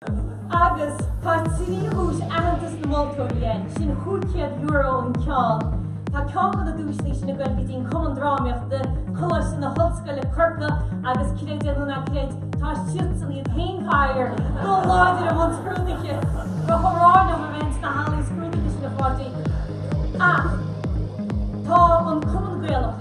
Agus tá trí dhuais aitheantais na moltóirí air, sin €500 an ceann. Tá ceann de na duaiseanna sin ag dul go dtí an Cumann Drámaíochta, Coláiste na hOllscoile Corcaigh agus creid é nó ná creid, tá siadsan iad féin faraor i láthair i mbun scrúduithe go hamháin liom a bheinn sna hallaí scrúdaithe sin a Pháidí ach tá an Cumann Gaelach,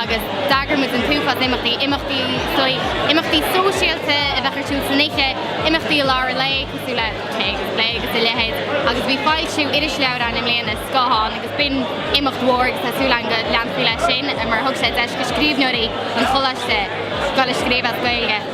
agus d'eagraíomar an t-uafás imeachtaí, imeachtaí soithigh, imeachtaí sóisialta a bheadh ar siúl san oíche, imeachtaí i lár an lae cosúil le tae agus plé agus a leithéid, agus bhí foilsiú irisleabhair againn i mbliana, Scáthán, agus b'in imeacht mhór agus tá súil agam go leanfar leis sin, mar thug sé deis do scríbhneoirí an Choláiste scéal a scríobh as Gaeilge.